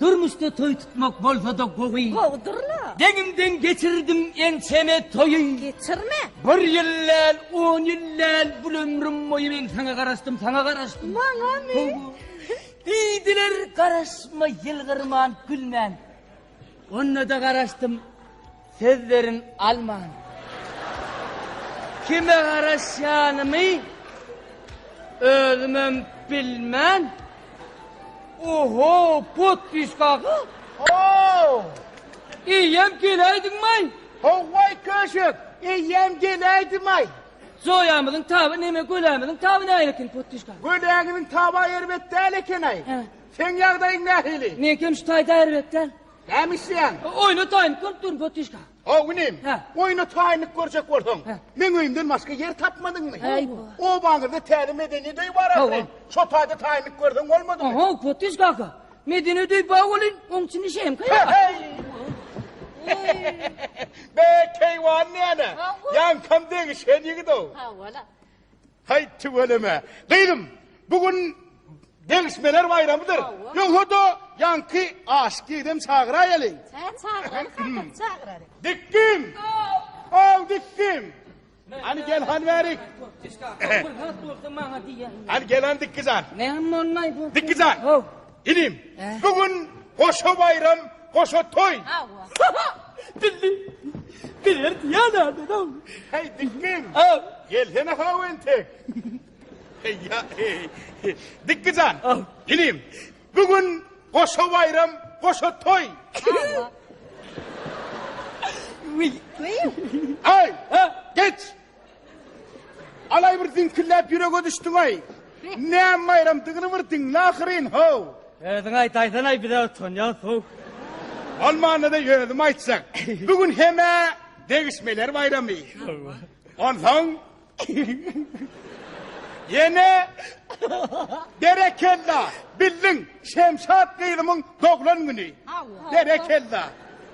Durmuşda toý tutmak bolsa-da gowy. Gowudyr-la. Deňiňden geçirdim ençeme toýy. Geçirme. Bir ýyl däl, on ýyl däl, bul ömrüm boýy men saňa garaşdym, saňa garaşdym. Maňamy? Ho-ho. Diýdiler, garaşma, ýylgyrman, gülmän. Onda-da garaşdym. Söz berin alman. Kime garaşýanymy özümem bilmän Oho, potpiska ga? Ho! Eýýäm geläýdiňmaý? Ho-waý köşek, eýýäm geläýdimaý? Joýamyzyň taby neme, gölämiziň taby nähili eken, potpiska? Göläňiziň taby-a erbet däl eken-aý. Hä. Seň ýagdaýyň nähili? Meňkem şu taýda erbet däl. Näme isleýäň? Oýnataýyn, görüp durun, Potişka. How inim? Hä. Oýnataýynlyk görjek bolsaň, Hä. meň öýümden başga ýer tapmadyňmy? Äý, bu. Obaňyzda täze medeniýet öýi bar ahyryn. Hawa. Şo taýda taýynlyk görseň bolmadymy? Aha, Potiş kaka. Medeniýet öýi bar welin, oň üçin işeýin, käýa. He-heý! Be, keýwan näne? Hawa. Ýaňkam degişen ýigit-ow. Hawa-la. Haý tüweleme. Gyzym, bu gün degişmeler baýramydyr. Ýogsa-da, ýaňky aşyk ýigidem çagyraýalyň. Hä, çagyralyk, albat, çagyralyk. Dikgim! Haw, dikgim! Hany gel, hany bärik. Hany gel, hany dikgi jan. Näme bolmaý bu? Dikgi jan! Inim, bu gün goşa baýram, goşa toý. Dilli, biler diýýänädin-ow. Häý, Dikgim. Gelsene how entek. Heý-ýa, heý. Dikgi jan, inim, bu gün goşa baýram, goşa toý. Wiý. Aý, geç, Alaý bir diňkilläp ýürege düşdüňaý. Näme baýramdygyny bir diňle ahyryn, how! Özüň aýtaýsanaý bize utanýas how. Bolmanda-da özüm aýtjak. Bu gün hem-ä degişmeler baýramy. Onsoň ýene berekella bildiň Şemşat gyzymyň doglan güni. Berekella.